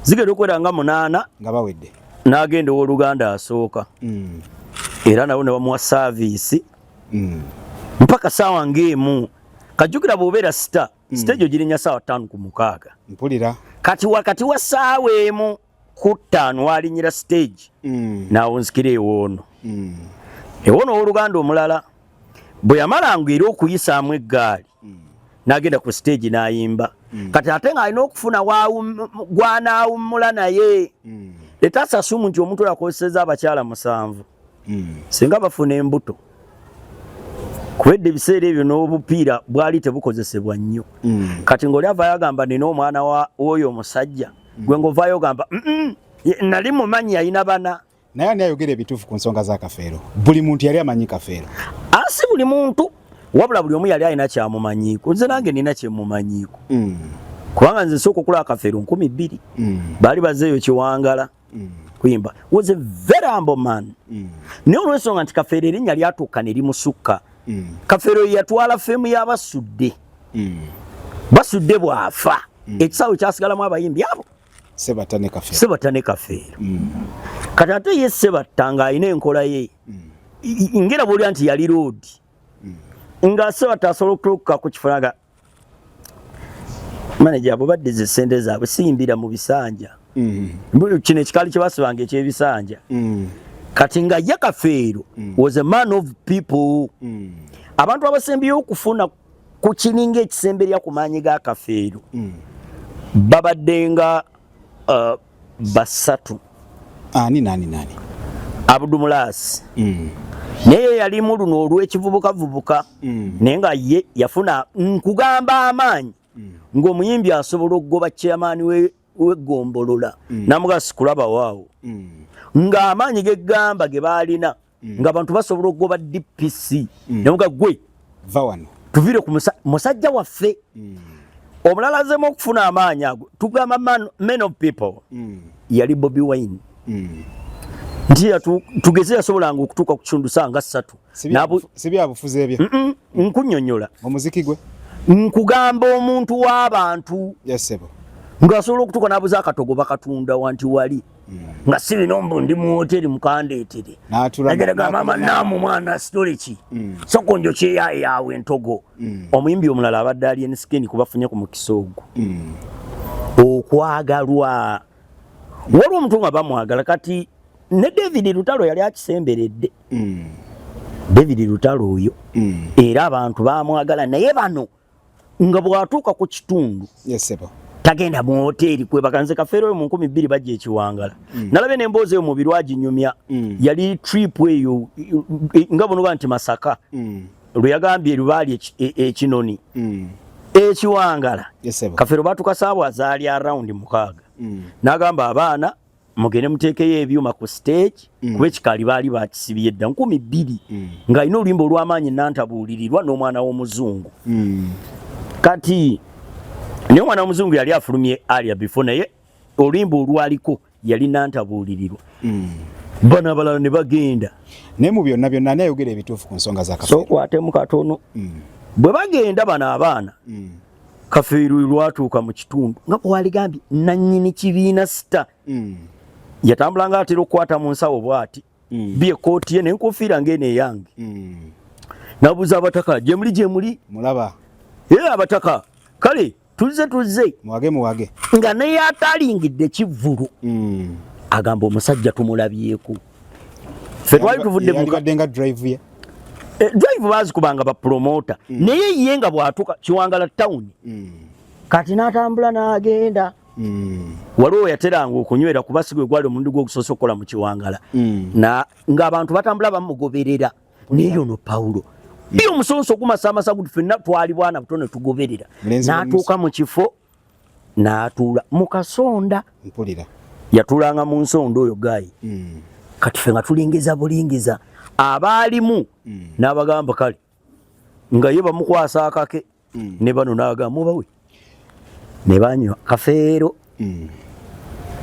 zigenda okuwera nga munaana nga bawedde n'agenda ow'oluganda asooka mm. era nabo ne bamuwa saaviisi mm. mpaka saawa ng'emu kajjukira bw'obeera sita mm. sita egyo girinya saawa ttaano ku mukaaga mpulira kati wakati wa saawa emu ku ttaano walinyira siteegi n'awunzikira ewoono ewoono ow'oluganda omulala bwe yamalanga era okuyisaamu eggaali mm. n'agenda ku siteegi n'ayimba mm. kati ate ng'alina okufuna gwanaawummula naye mm. etasasumu nti omuntu oyo akozeseza abakyala musanvu mm. singa bafuna embuto kubedde ebiseera ebyo n'obupiira bwali tebukozesebwa nnyo mm. kati ng'oli avayo agamba nina omwana w'oyo omusajja mm. gwe ng'ovayo ogamba nali mumanyi yalina bana naye ani ayogera ebituufu ku nsonga za kafeero buli muntu yali amanyi kafeero asi ah, buli muntu wabula buli omu yali alina kyamumanyiiko nze nange nina kyemumanyiiko mm. kubanga nze sooka okulaba kafeero nkumi bbiri mm. baali bazeeyo kiwangala mm. kuyimba was a very humble man mm. naye olwensonga nti kafeero erinnya lyatuuka ne limusukka mm. kafeero yeyatwala feemu y'abasudde mm. basudde bw'afa mm. ekisaawe kyasigalamu abayimbi abo Sebatta ne Kafeero. Sebatta ne Kafeero. Mm. Kati ate ye Sebatta ng'alina enkola ye mm. ngera bw'olya nti yali loodi mm. nga Sebatta asobola okutuuka ku kifo naga maneja abo baddiza essente zaabwe siyimbira mu bisanja mm. kino ekikaali kye basibanga eky'ebisanja mm. kati nga ye Kafeero mm. was a man of people mm. abantu abasembyeyo okufuna ku kininga ekisemberya ku maanyi ga kafeero mm. babadde nga uh, basatu ani nani nani abudumulaasi mm. naye yalimu luno olw'ekivubukavubuka mm. naye nga ye yafuna nkugamba amaanyi mm. ng'omuyimbi asobola okugoba chairmaani w'eggombolola mm. namugasi kulaba waawo mm. ng'amaanyi g'eggamba ge baalina mm. nga abantu basobola okugoba dpc mm. nemuga gwe va wano tuvire ku musajja waffe mm. omulala azemu okufuna amaanyi ago tugamba man, man of people mm. yali bobi wine mm. nti tugeze yasobolanga okutuuka ku kitundu saa nga ssatu sibyabufuzi ebyo mm -mm, nkunyonyola omuziki gwe nkugamba omuntu w'abantu yes, ng'asobola okutuuka n'abuza akatogo bakatunda wanti wali nga si bino mbu ndi mu woteri mukandeetere nagera ga maama naamu mwana sitole ki mm. soko njo kyeyaye yaawe entogo mm. omuyimbi omulala abadde ali ensikeni kubafunye ku mukisa ogwo mm. okwagalwa waliwo omuntu nga bamwagala kati ne david lutalo yali akisemberedde david lutalo oyo era abantu bamwagala naye bano mm. nga bwatuuka ku kitundu tagenda mu hoteeri kwebakanze kafeero oyo mu nkumi bbiri bajja ekiwangala mm. nalabye n'emboozi eyo mubiru aginyumya mm. yali trip eyo nga bunoba nti masaka mm. lwe yagambye lubaali ekinoni e, e, mm. ekiwangala kafeero batuka saawa azaali around mukaaga mm. n'agamba abaana mugende muteekeyo ebyuma ku stage mm. kuba ekikaali baali bakisibye dda nkumi bbiri mm. ng'alina oluyimba olw'amaanyi nantabuulirirwa n'omwana w'omuzungu mm. kati naye omwana w'omuzungu yali afulumye alia before naye oluyimba olwaliko yali nantabuulirirwa mm. bano abalala ne bagenda naye mu byonna byonna ani ayogera ebituufu ku nsonga za kasokwatemu katono mm. bwe bagenda bano abaana mm. kafeeru lwatuuka mu kitundu nga bwaligambye nannyini kibiina sita mm. yatambula nga atera okukwata mu nsawo bwati mm. bi ekkooti ye nenkufiira ngaeno eyange mm. nabuuza abataka gyemuli gyemuli mulaba ye abataka kale tuzze tuzze muwage muwage nga neyataalingidde kivvulu mm. agamba omusajja tumulabyeko mm. ffe twali tuvudde mukadde nga drive ye eh, drive bazikubanga ba promoter mm. naye ye nga bwatuka kiwangala town mm. kati natambula nagenda mm. waliwo yateranga okunywera kuba sigwe gwali omundi gwogusoose okukola mu kiwangala mm. ngaabantu batambula bamugoberera naye ono pawulo mm. bi omusonso gumasaamasa guti fenna twali bwana buto ne tugoberera natuuka mu kifo n'atuula mu kasonda mpulira yatulanga mu nsonda oyo gaayi mm. kati fe nga tulingiza bulingiza abaalimu mm. n'abagamba kale nga ye bamukwasa akake mm. ne bano n'agamba mubawe ne banywa kafeero mm.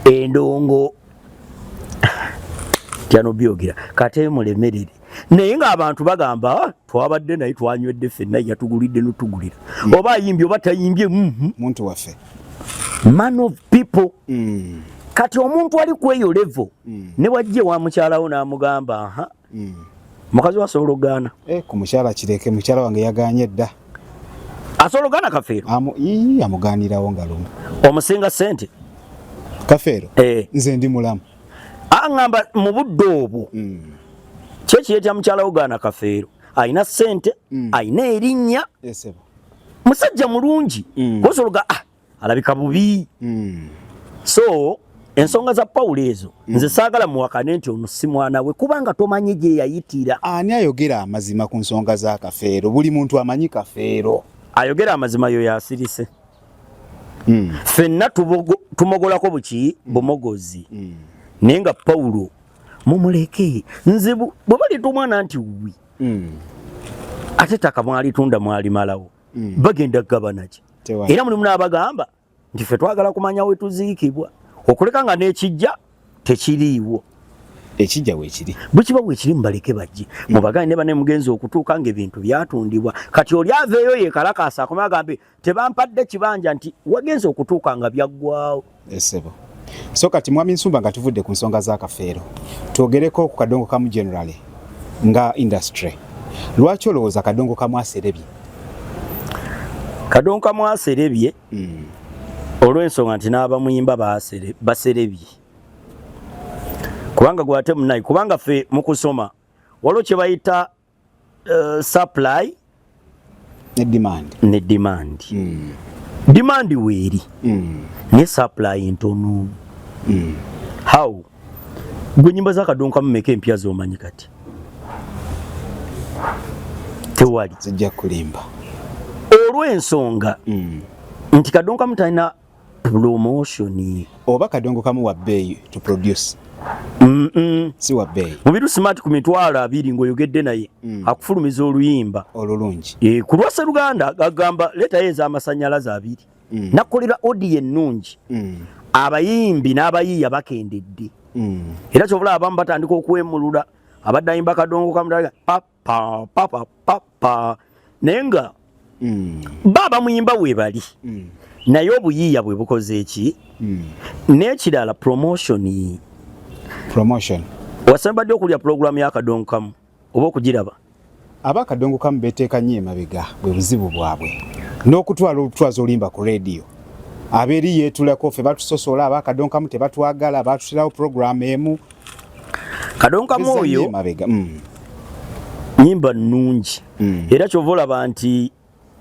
endongo tyano byogera kate mulemerere naye ng'abantu bagamba ah, twabadde naye twanywedde fenna yatugulidde notugulira mm. oba ayimbye oba tayimbye mm, mm. muntu waffe man of people mm. kati omuntu ali kweyo levo mm. ne wajje wa mukyalawo n'amugamba aha mm. mukazi wasobola okugaana eh, ku mukyala kireke mukyala wange yaganye dda asobola okugaana kafeero amugaanirawo nga lumu omusinga sente kafeero eh. nze ndi mulamu aŋamba mu budde obwo mm. kyekiye kya mukyala wo gaana kafeero alina sente mm. alina erinnya musajja mulungi mm. kosologa ah, alabika bubi mm. so ensonga za pawulo ezo mm. nze saagala muwakane nti ono si mwana we kubanga tomanyi gye yayitira ani ayogera amazima ku nsonga za kafeero buli muntu amanyi kafeero ayogera amazima yo yasirise mm. fenna tumogolako buki mm. bumogozi mm. naye nga pawulo mumuleke nze bwe baleeta omwana nti wi mm. ate taka mwalitunda mwalimalawo mm. bagenda kugabanaki era mulimu n'abagamba nti fe twagala kumanya we tuziikibwa okuleka nga n'ekijja tekiriiwo ekijja wekiri bukiba wekiri mubaleke bajje mubagane ne bane mugenzi okutuuka nga ebintu byatundibwa kati oli aveeyo yekalakaasa akoma agambe tebampadde kibanja nti wagenze okutuuka nga byaggwawo esebo so kati mwami nsumba nga tuvudde ku nsonga za kafeero twogereko ku kadongo kamu generally nga industry lwaki olowooza kadongo kamu aserebye kadongo kamu aserebye mm. olw'ensonga nti n'abamuyimba baserebye kubanga gwate munayi kubanga fe mu kusoma waliwo kye bayita uh, supply ne demand ne demand mm. demand weeri mm. ne supply ntono mm. how gwe nyimba za kadonka mumeka empya zomanyi kati tewali zijja kulimba olw'ensonga mm. nti kadonka mutalina promotion oba kadongo kamu wa bbeeyi to produce mm -mm. si wa bbeeyi mubiru smart ku mitwalo abiri ng'oyogedde naye mm. akufulumiza oluyimba olulungi e, ku lwa seruganda agamba leetayo ez'amasannyalaze abiri mm. nakolera odiyo ennungi mm. abayimbi n'abayiiya bakendedde mm. era kyobula abamu batandika okwemulula abadde ayimba kadongo kamutalaga pap pa pa pa pa pa naye nga mm. baba muyimba webali mm. naye obuyiiya bwe bukoze eki mm. n'ekirala promotion promotion wasembadde okulya pulogulaamu y'akadongo kamu oba okugiraba aba akadongo kamu beteeka nnyo emabega bwe buzibu bwabwe n'okutwala olutwaza olimba ku rediyo abeeri yeetulako ffe batusosola aba akadongo kamu tebatwagala batutirawo pulogulaamu emu Kadonka Moyo mm. nyimba nungi mm. era kyova olaba nti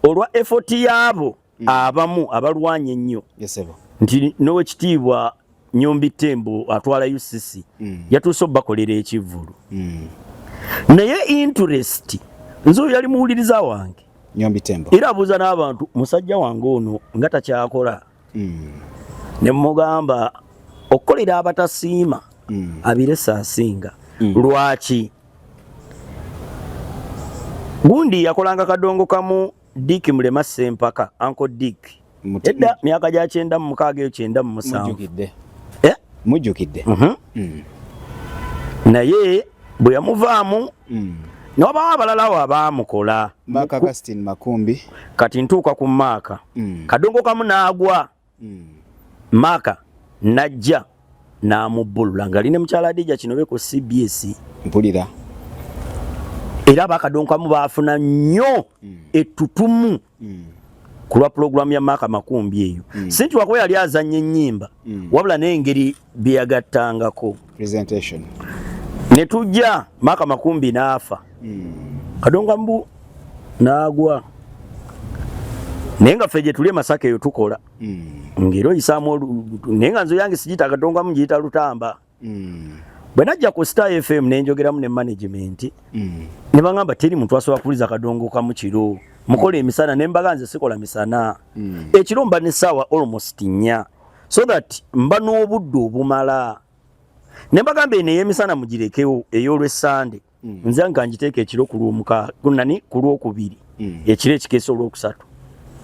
olwa effort yaabo mm. abamu abalwanye ennyo yes, nti nowekitiibwa nyombi tembo atwala UCC mm. yatuuse obakolera ekivvulu mm. naye interest nze oyo yali muwuliriza wange nyombi tembo era abuuza n'abantu musajja wange ono nga takyakola hmm. ne mugamba okukolera abatasiima hmm. abirese asinga hmm. lwaki gundi yakolanga kadongo kamu dik mulema sempaka anko dik edda myaka gya kyenda mu mukaaga eyo kyenda mu musanvu mujjukidde eh? mhm. naye bwe yamuvaamu mm. newabawo abalalawo abaamukola maaka kastin makumbi kati ntuuka ku maaka mm. kadongo kamu naagwa mm. maaka najja namubbulula nga ali ne mukyala adija kino be ku cbs mpulira era bakadongo kamu baafuna nnyo mm. ettutumu mm. kulwa pulogulaamu ya maaka makumbi eyo mm. sinti wakuba yali azanya ennyimba mm. wabula n'engeri bye yagattangako ne tujja maaka makumbi n'afa hmm. kadonga mbu n'agwa naye nga ffe gye tuli emasaka eyo tukola hmm. ngeri oyisaamu naye nga nze yange sigiyita kadonga mu ngiyita lutamba hmm. bwe najja ku star fm ne njogeramu ne management ne baŋamba teri muntu asobola kuwuliza kadongo kamu kiro mukola emisana ne mbaga nze sikola misana ekiro mba ne saawa almost nnya so that mba n'obudde obumala ne mbagamba eno ey'emisana mugirekewo ey'olwessande mm. nze nga ngiteeka ekiro ku lwomukagunani ku lwokubiri mm. ekiro ekikeesa olwokusatu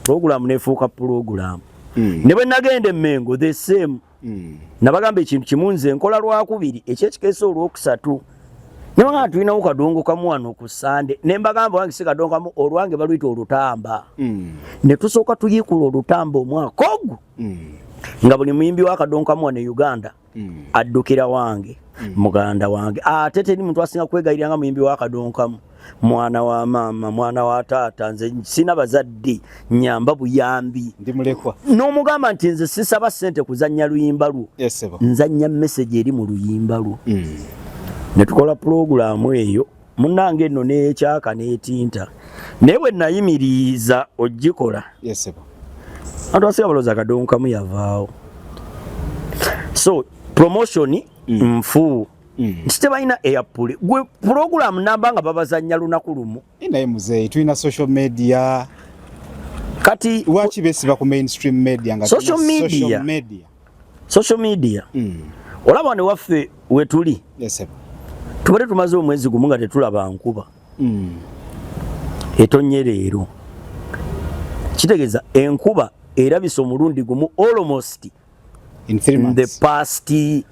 pulogulaamu nefuuka pulogulaamu mm. ne bwe nagenda emmengo the same mm. nabagamba ekintu kimu nze nkola lwakubiri ekyekikeesa olwokusatu mm. Naye nga tulinawo kadongo kamu wano ku Sande ne mbagamba wange si kadongo kamu olwange baluyita olutamba mm. ne tusooka tuyiikula olutamba omwaka ogwo mm. nga buli muyimbi wa kadongo kamu wano e Uganda mm. addukira wange mm. muganda wange ate teri muntu asinga kwegayirira nga muyimbi wa kadongo kamu mwana wa maama mwana wa taata nze sina bazadde nyamba buyambi ndi mulekwa n'omugamba nti nze sisaba ssente kuzannya luyimba lwo yes, nzannya meseji eri mu luyimba lwo mm. ne tukola pulogulaamu eyo munange nno n'ekyaka n'etinta naye bwe nayimiriza ogikola yes, antu asiga balooza kadonkamu yavaawo so promotion mm. nfuu Mm. nti tebalina eyapuli gwe pulogulaamu namba nga babazanya lunaku lumu eh, naye muzeeyi tulina social media kati lwaki besiba ku mainstream media nga social media social media mm. olaba ne waffe wetuli tubadde tumaze omwezi gumu nga tetulaba nkuba mm. etonye leero kitegeeza enkuba erabisa omulundi gumu almost in three months in the past eh,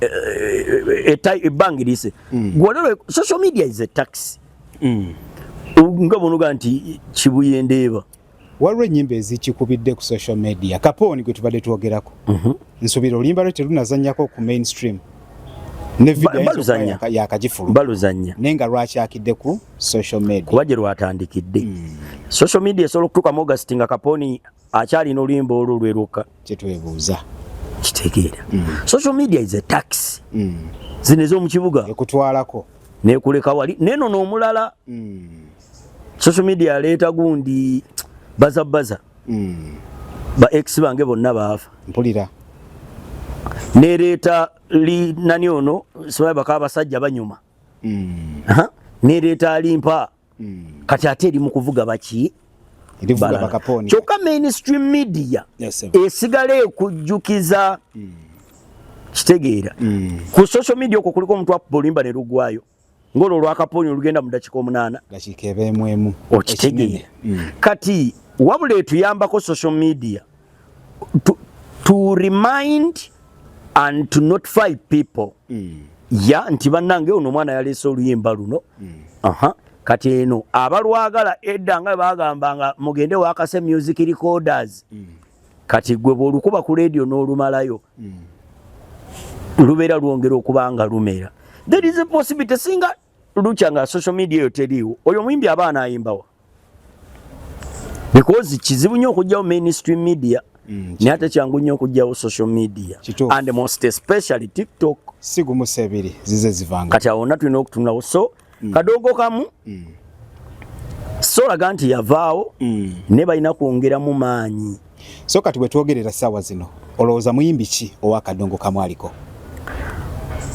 eh, eh, ebbanga erise mm. gwolero social media is a tax mm. nga bonoga nti kibuyendeeba waliwo ennyimba ezikikubidde ku social media kapooni gwe tubadde twogerako mhm. nsubira oluyimba lwe terunazanyako ku mainstream baluzanya naye nga lwakyakidde ku social media kuba gye lwatandikidde mm. social media esobola okutuukamu august nga kapooni akyalina oluyimba olwo lwe lwokka kyetwebuuza kitegeera mm. social media is a tax mm. zino ez'omu kibuga ekutwalako nekuleka wali neno n'omulala mm. social media aleeta gundi baza baza mm. ba ex bange bonna baafa mpulira nereeta li nani ono simanyi baka abasajja banyuma mm. nereeta alimpa mm. kati ate eri mu kuvuga baki kyokka mainstream media yes, esigala ekujjukiza mm. kitegeera mm. ku social media okwo kuliko omuntu akuba oluyimba ne lugwayo ng'olwo olwakapooni olugenda mu dakika omunaana okitegeera mm. kati wabula etuyambako social media to, to remind and to notify people mm. ya nti banange ono omwana yaleese oluyimba luno mm. aha kati eno abalwagala edda nga bagamba nga mugende wakase music recorders mm. kati gwe bwolukuba ku radio n'olumalayo mm. lubeera lwongera okuba nga lumera there is a possibility singa lukya nga social media eyo teriiwo oyo omuyimbi aba anayimbawa because kizibu nnyo okugyawo mainstream media mm, naye ate kyangu nnyo okugyawo social media Chitu. and most especially tiktok sigumusa ebiri zize zivanga kati awona tulina okutunawo so mm. kadogo kamu mm. solaga nti yavaawo mm. ne balina kwongeramu maanyi So kati wetwogerera sawa zino olowooza muyimbi ki owa kadongo kamwaliko?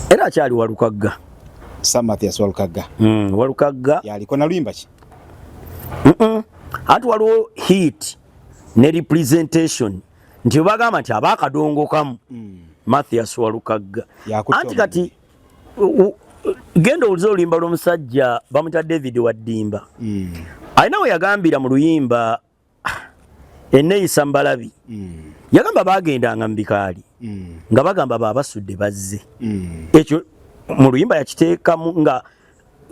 Era akyali walukagga Sam Mathias walukagga mm, walukagga yaliko na luyimba ki? Mm -mm. Ati waliwo hit ne representation nti bagamba nti abakadongo kamu mm. Mathias walukagga anti kati genda owulize oluyimba lw'omusajja bamuyita David Waddimba mm. alina we yagambira mu luyimba eneyisa mbalabi mm. yagamba bagendanga mubikaali mm. nga bagamba babasudde bazze mm. ekyo mu luyimba yakiteekamu nga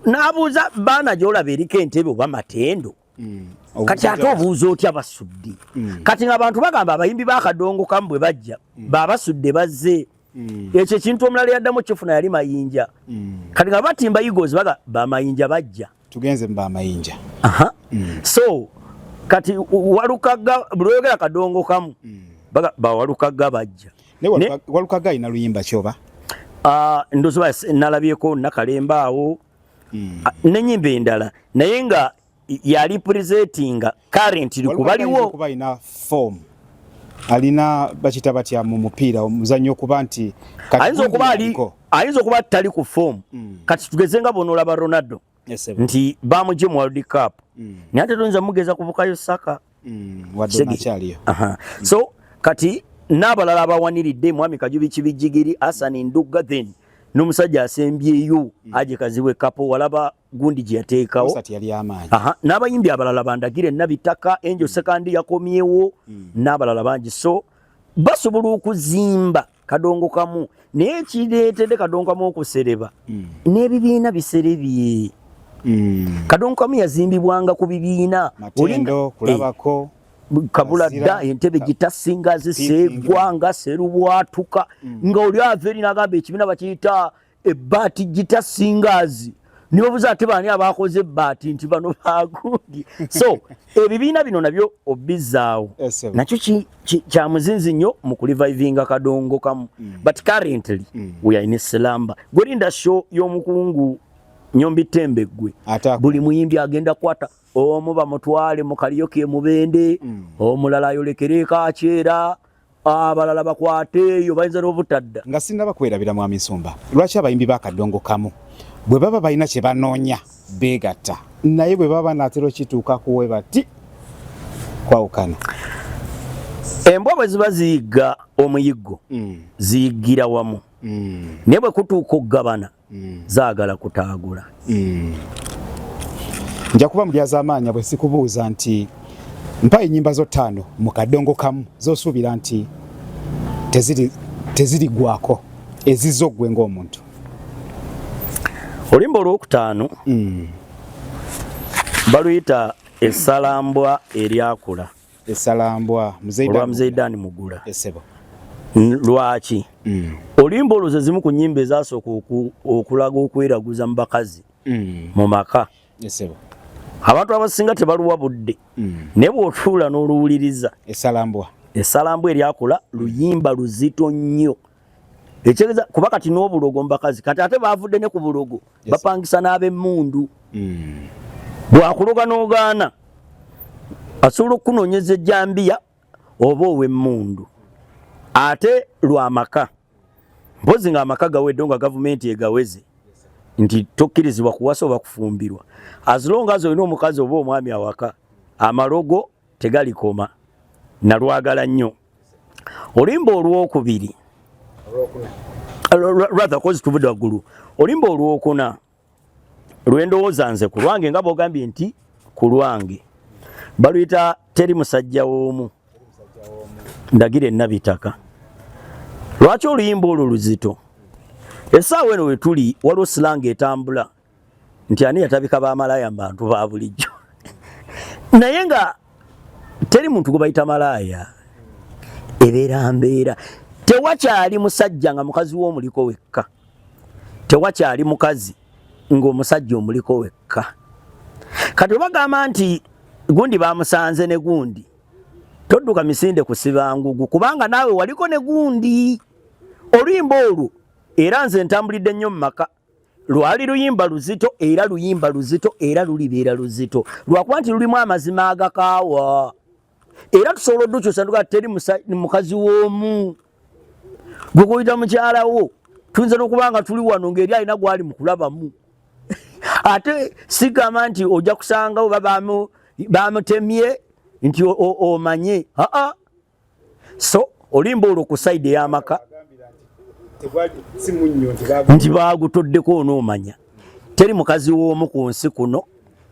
nabuuza baana gyolaba eriko entebe oba matendo mm. kati ate obuuza otya basudde mm. kati nga abantu bagamba abayimbi bakadongo kamu bwe bajja mm. babasudde bazze Mm. Ekyo ekintu omulala yaddamu kifuna yali mayinja. Mm. Kati nga batimba Eagles baga ba mayinja bajja. Tugenze mba mayinja. Aha. Mm. So kati walukaga bulwegera kadongo kamu. Mm. Baga ba walukaga bajja. Ne walukaga, ne, walukaga ina luyimba choba. Ah uh, ndozo ba nalabyeko nakalemba awo. Mm. Ah, ne nyimbe ndala. Naye nga ya representing currently kubaliwo kuba ina form alina bakita batya mu mupiira omuzanyo okuba nti ayinza okuba ali ayinza okuba tali ku form mm. kati tugeze nga bono laba Ronaldo yes, nti bamuje mu World Cup mm. naye ate tuyinza mugeza kubukayo saka mm. wadde nakyaliyo mm. so kati n'abalala abawaniridde mwami kajubi kibijigiri asani ndugga then n'omusajja asembyeyo mm. aje kazibwe kapo walaba gundi gye yateekawo n'abayimbi abalala bandagire nabi ttaka enjo hmm. sekandi yakomyewo hmm. n'abalala bangi so basobola okuzimba kadongo kamu naye ekireetedde kadongo kamu okusereba hmm. n'ebibiina biserebye kadongo kamu yazimbibwanga ku bibiina kulabako eh, kabula dda entebe gitasinga ziseegwa nga serubwatuka nga oli ava eri nagamba ekibiina bakiyita ebbaati gita singaazi nibabuza ate baani abaakoze ebbaati nti bano baagundi so ebibiina bino nabyo obizzaawo nakyo kya muzinzi nnyo mu kulivivinga kadongo kamu mm. but currently mm. we are in slamba gwerinda show y'omukungu nyombi tembe gwe buli muyimbi agenda kwata omu bamutwale mu kaliyo ke mubende mm. omulala ayolekere kakyera abalala bakwateeyo bayinza n'obutadda nga sinaba kwerabira mwami nsumba lwaki abayimbi bakadongo kamu bwe baba balina kye banoonya beegatta naye bwe baba naatera okituuka kuwe bati kwawukana embwa bwe ziba ziyigga omuyiggo mm. ziyiggira wamu mm. naye bwe kutuuka okugabana mm. zaagala kutaagula mm. nja kuba mu byazamaanya bwe sikubuuza nti mpa ennyimba zo ttaano mu kadongo kamu zosuubira nti tezirigwako teziri ezizo ggwe ng'omuntu olimba olwokutaano mm. baluyita esalambwa eryakula esalambwa olwa mzee dan mugula esebo lwaki mm. olimba oluze zimu ku nyimba ezasooka okulaga okweraguza mu bakazi mm. mu maka esebo abantu abasinga tebaluwa budde mm. naye bwotuula n'oluwuliriza esalambwa esalambwa eryakula luyimba luzito nnyo ekyegeza kuba kati n'obulogo mubakazi kati ate bavudde ne ku bulogo bapangisa n'abemmundu hmm. bwakuloga n'ogaana asobola okukunonyeza ejjambiya oba owemmundu ate lwamaka mpozi nga amaka gawedde nga gavumenti egaweze nti tokkirizibwa kuwasa oba kufumbirwa azilonga azi olina omukazi oba omwami awaka amalogo tegalikoma nalwagala nnyo olimba olwokubiri rather kozi tuvudde waggulu olimba olwokuna lwendowooza nze ku lwange nga bwogambye nti ku lwange baluyita teri musajja woomu ndagira enabitaka lwaki oluyimba olwo luzito esaawa eno wetuli waliwo silanga etambula nti ani yatabika ba malaaya mbantu ba bulijjo naye nga teri muntu gubayita malaaya ebeera mbeera tewakyali musajja nga mukazi w'omuliko wekka tewakyali mukazi ng'omusajja omuliko wekka kati obagamba nti gundi bamusanze ne gundi todduka misinde kusiba ngugu kubanga naawe waliko ne gundi oluyimba olwo era nze ntambulidde nnyo mu maka lwali luyimba luzito era luyimba luzito era lulibeera luzito lwakuba nti lulimu amazima agakaawa era tusobola odukyusa tuga teri mukazi w'omu gwe kuyita mukyala wo tuyinza n'okuba nga tuli wano ng'eri alina gwali mu kulabamu ate sigamba nti ojja kusanga oba bamutemye nti omanye aa so olimba olwo ku saidi ey'amaka nti baagutoddeko onoomanya teri mukazi w'omu ku nsi kuno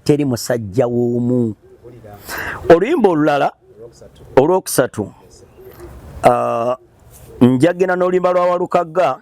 teri musajja w'omu oluyimba olulala olwokusatu uh, njagena n'oluyimba lwa walukagga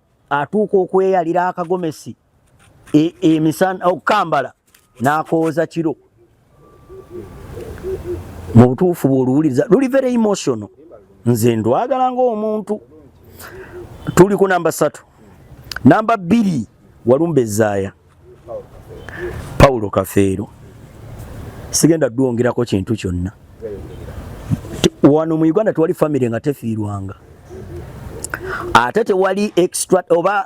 atuuka okweyalira akagomesi e, emisana okukambala n'akooza kiro mu butuufu bw'oluwuliriza luli very emotional nze ndwagala ng'omuntu tuli ku namba satu namba bbiri walumba ezaaya Paulo Kafeero sigenda duwongerako kintu kyonna wano mu Uganda tewali famire nga tefiirwanga ate tewali extra oba